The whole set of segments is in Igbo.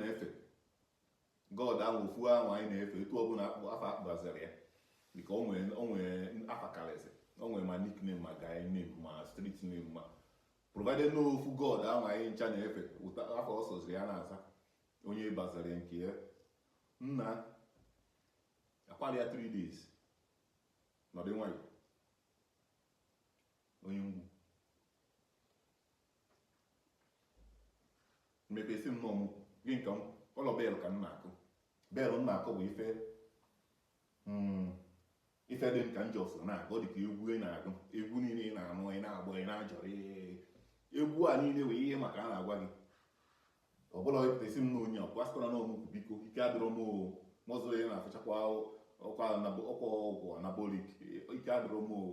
na-efe god ahụ ofu ahụ anyị na-efe etu ọbụla afa a kpọbaziri ya dịka o nwere afa karịsị o nwere ma nickname ma guy name ma street name ma provided na ofu god ahụ anyị ncha na-efe afa ọ sọziri ya na-aza onye baziri nke ya nna akwara ya 3 days nọdụ nwayọ onye ngwu mepesi nnọọ mụ gị nke m ụlọ bell ka m na-akụ bell m na-akụ bụ ife mm, ife dị m ka njọ so na-agụ ọ dị ka egwu ị na-agụ egwu niile ị na-anụ ị na-agba ị na-ajọrọ egwu a niile wee ihe maka a na-agwa gị ọ bụla epụtasi m na onye ọkwa sịkwara na ọmụkwụ biko ike adịrọ m oo mọzụ ya na-afụchakwa ọkwa ọgwụ anabolik ike adịrọ m oo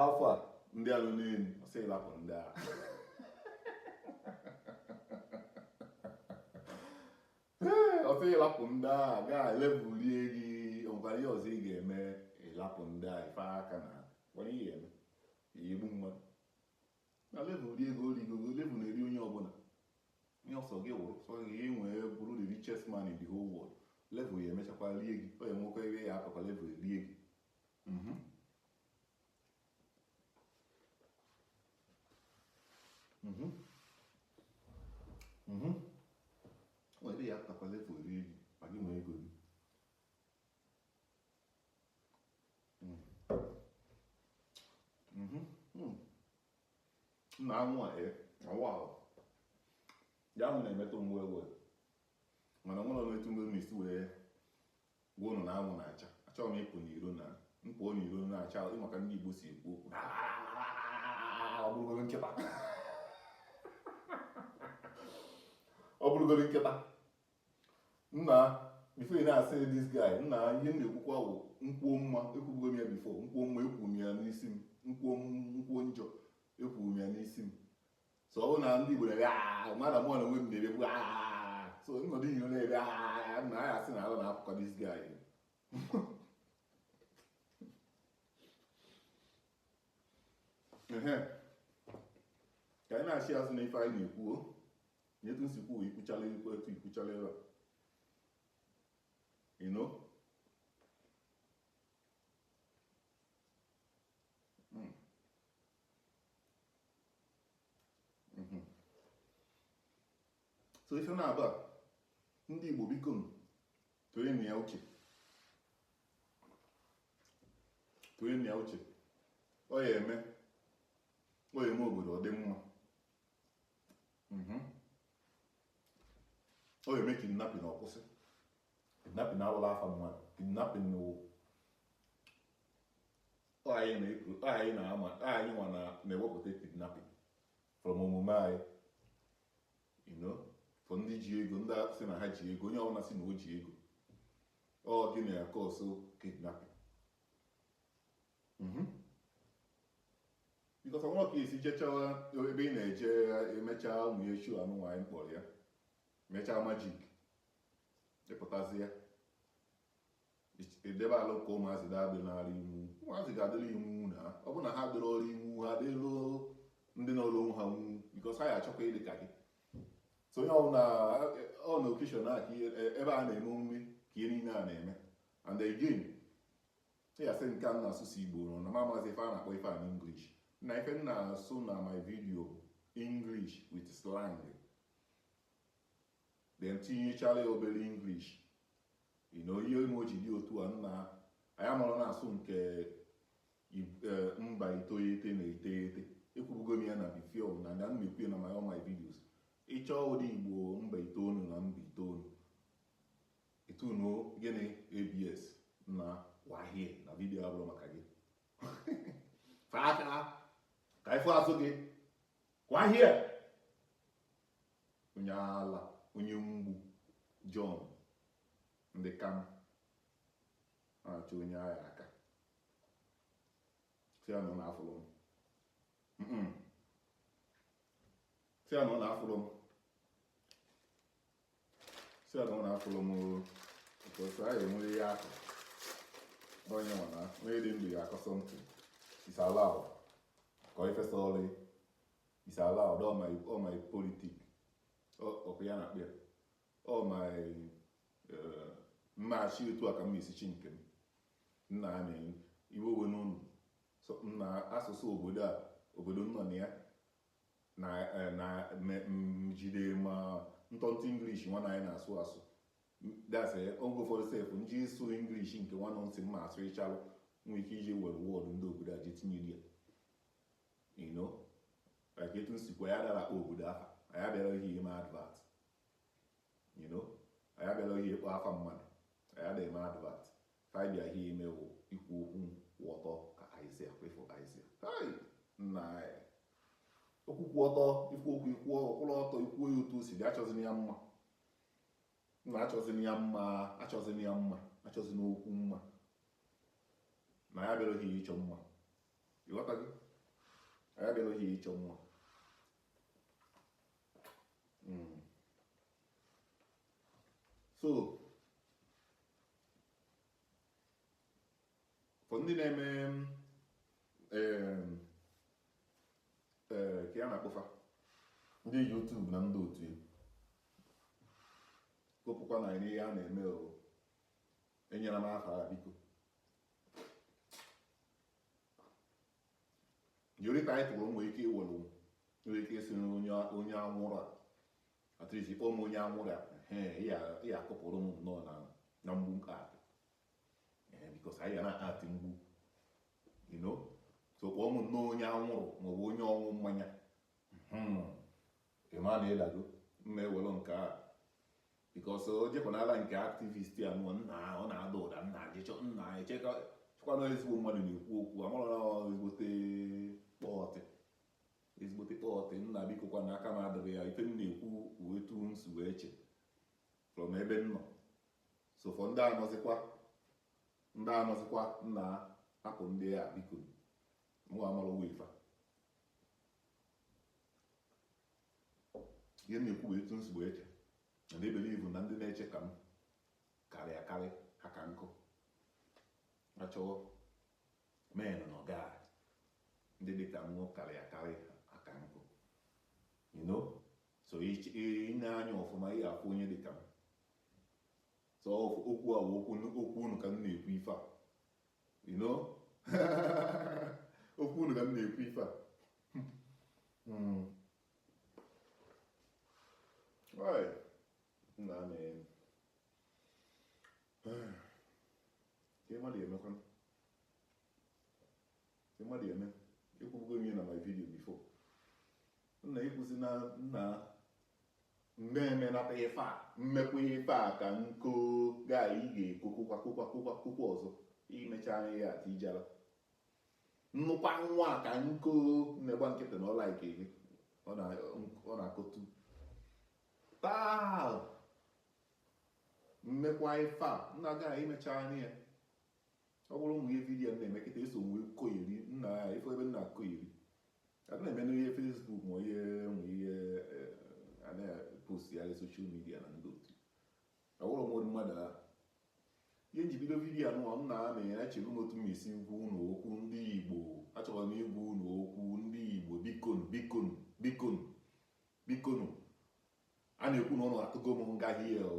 Alfa ndị anụ n'elu ọ sị ị lapụ ndị a ọ sị ị lapụ ndị a gaa level rie gị o nwekwara ihe ọzọ ị ga-eme ị lapụ ndị a ife aka na nwere ihe eme igbu mmadụ na level ri ego ri ego level na-eri onye ọbụla ihe ọ sọ gị wụrụ sọ gị ị nwee bụrụ the richest man in the whole world level ya emechakwa rie gị ọ ya nwekwa ebe ya akọkwa level rie gị Mhm. Mhm. Mhm. O nwere ya akọkwa level rie gị ma gị nwee ego gị. Mm. Mhm. Mm. Nna anwụ a ee awụ ahụ ya ahụ na-emetụ mgbe ewe mana nwere m etu mgbe m esi wee Gwa ụnụ na anwụ na-acha. Achọrọ m ịpụ n'iro na m pụọ n'iro na-acha ị ma ka ndị Igbo si ekwu okwu ọ bụrụgoro nkịta ọ bụrụgoro nkịta nna before ị na-asị this guy nna ihe m na-ekwukwa bụ m kwuo mma ekwubugo m ya before m kwuo mma ekwuo m ya n'isi m m kwuo m kwuo njọ ekwuo m ya n'isi m so ọ bụrụ na ndị Igbo na-ebe ah, mmadụ mụ na onwe m na-ebebu ah, so m nọdụ iro na-ebe ah, na ya asị na ala na-apụkọ this guy ka anyị na-achị azụ na ife anyị na-ekwuo nyetu nsikwu ikwuchala ikwu etu ikwuchala ebe you know mhm. so ife m na-agwa ndị Igbo biko tinyenu ya uche tinyenu ya uche ọ ya eme ọ ya eme obodo ọ dị mma mhm. ọ ya eme kidnapping ọ kwụsị kidnapping awụrọ afa mmadụ kidnapping wụ ọ anyị na-ekwu ọ anyị na-ama ọ anyị nwa na- na-ewepụta kidnapping from omume anyị you know for ndị ji ego ndị a sị na ha ji ego onye ọbụla sị na o ji ego ọ gị na ya cause kidnapping Mhm. because ọnwa ka esi jechawa ebe ị na-eje ya emechaa ụmụ ya echu anụnwa anyị kpọrọ ya mechaa magic ị pụtazia edebe alụ ka ụmụazị ga-adị n'ala iwu ụmụazị ga-adịrị iwu na ọ bụ na ha dịrị ọrụ iwu ha dịrụ ndị n'ọrụ onwe ha nwu because ha ya achọkwa ịdị ka gị so onye ọbụla ọ na occasion a ka ebe a na-eme omume ka ihe niile a na-eme and again ya sị nke a n'asụsụ Igbo nọ na m amazi ife a na-akpọ ife a n'English na ife m na-asụ na my video English with slang then tinyechara ya obere English ị na ihe mere o ji dị otu a nna anyị amara na-asụ nke eh, mba iteghete na iteghete ekwubugo m ya na before na m na-ekwu na my all my videos ị chọọ ụdị Igbo mba itoolu na mba itoolu ị tunuo gịnị ABS na wahie na video abụrọ maka gị faka ka ifo azụ gị wahie Onye ala, onye mgbu, John, ndị ka m na-achọ onye agha aka si ya na ọ na-afụrụ m Mm-mm. si ya na ọ na-afụrụ m si ya na ọ na-afụrụ m oo. because anyị enwere ihe akụ onye nwa na onye dị ndụ ya akọ something is allowed kọọ ife sọrọ is allowed all my all my politics ọkụ ya na-akpụ ya all my eh, mmachi otu a ka m na-esi chi nke m nna ha na-enye iwe owe n'ụlọ na asụsụ obodo a obodo nọ na ya na eh, jide ma ntọntụ English nwa anyị na-asụ asụ that's eh, oge ụfọdụ sef m ji asụ English nke nwanụ ntị m ma asụ ịchalụ nwee ike iji were word ndị obodo a ji tinye ya You know, like etu m si kwuo anyị adara akpọ obodo afa anyị abịarọ ime advert you know anyị abịarọ ịkpọ afa mmadụ anyị adịghị eme advert ife anyị bịara ime wụ ikwu okwu kwụ ọtọ ka aịzia kwefụ aịzia hai nna anyị okwu kwụ ọtọ ikwu okwu ikwu ọkwụrụ ọtọ ikwu ya otu o si dị achọzina ya mma nna achọzina ya mma achọzina ya mma achọzina okwu mma na anyị abịarọ ịchọ mma Ịghọtago? Anyị abịaghị ịchọ mma. Hmm. So, for ndị na-eme ka a na-akpọ fa ndị YouTube na ndị otu gụpụkwa na ihe a na-eme o enyere m afa biko only title nwere ike iwere nwere ike isi na onye anwụrụ at least kpọọ m onye anwụrụ a ya akụpụrụ m nnọọ na mgbu nke a because anyị ga na-atị mgbu so kpọọ m nnọọ onye anwụrụ maọbụ onye ọṅụ mmanya hmm. ịma na ịdago mma ewere nke a because o jekwanala nke activist ya nụọ nna ọ na-ada ụda nna jee chọọ nna echekwana ezigbo mmadụ na-ekwu okwu amara ezigbote kpọọtị ezigbote kpọọtị nna biko kwa na aka m adịghị ya ife m na-ekwu wụ etu m si wee che from ebe m nọ so for ndị anọzikwa ndị anọzikwa nna hapụ ndị a biko mụ amara ụwa ife ihe m na-ekwu bụ etu m si wee che and I believe na ndị na-eche ka m karị akarị ha ka nkụ na chọwa men na ọga ndị dị ka mụ karị akarị ha ka nkụ you know so ị nee anya ọfụma ị ga-afụ onye dị ka m so okwu a bụ okwu okwu unu ka m na-ekwu ife a you know okwu unu ka m na-ekwu ife a hmm. nna a na-eme ka mmadụ emekwa Ị mmadụ ya eme, ekwubugo m ihe na my video before. Nna ịkwụsị na nna mmeme nata ife a mmekwa ife a ka nko gaa ị ga-ekokokwa kokwa kokwa kokwa ọzọ imecha anya ya ati ijala nnukwa nwa a ka nko na-agba nkịtị na ọla ike gị ọ na-akọtu taa mmekwa ife a nna gaa imecha anya ya ọ bụrụ ụmụ ihe vidiyo na-eme kịta eso nwe koyeri nna ya ife ebe nna koyeri adị na-eme n'ihe Facebook ma ihe ma ihe eh, a na-post ya social media na ndị otu ọ bụrụ ụmụ mmadụ ahụ ihe m ji bido vidiyo anụwa m na amị ya echebe m otu m esi gwa unu okwu ndị igbo achọrọ m ịgwa unu okwu ndị igbo bikonu bikonu bikonu bikonu a na-ekwu na ụnụ atụgo m nga hie o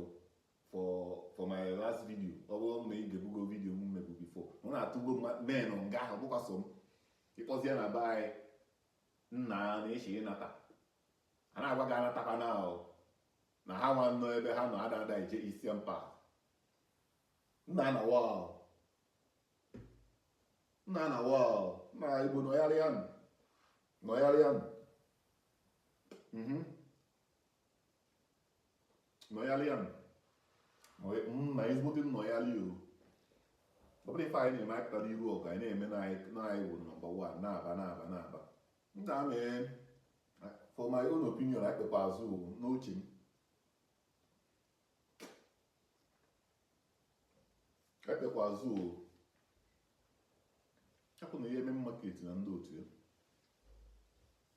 for for my last video ọ bụrụ na ị ga-ebugo video m mebu before na ụnụ atụgo m men nga ahụ bụkwa so m ịkpọzie na be anyị nna na-eche ịnata a na-agwa gị anatakwa na ahụ na ha nwa nọ ebe ha nọ ada ada eje isi mpa nna na wa nna na wa nna igbo nọgharịa nụ nọgharịa nụ Mhm. nọyalịa na ezigbote nnọyalị o ọ bụrụ ife anyị na-eme anyị pụtara iru ọgụ anyị na-eme na anyị bụ number one mba mba mba to me for my own opinion anyị kpekwa azụ n'uche m anyị kpekwa azụ o akwụ na ihe eme market na ndị otu ya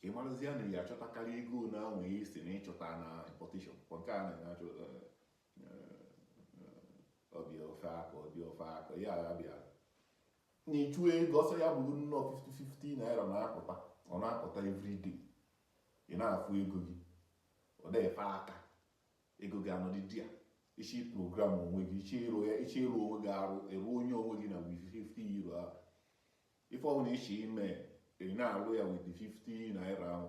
ka ị marazi ya na ya achọtakarị ego na anwe ihe si na ịchọta na importation kwa nke a na achọ ọ bịa o fe aka ọ bịa o fe aka ya agha bịa na ịchụ ego ọsọ ya bụrụ nnọọ 50-50 naira na-apụta ọ na-apụta everyday ị na-afụ ego gị ọ na-efe aka ego gị anọdị di ya ichi program onwe gị ichi ịrụ ya ichi ịrụ onwe gị arụ eruo onye onwe gị na 50 euro ahụ Ife ọbụla i che ime, ị na-alụ ya with the 50 naira ahụ.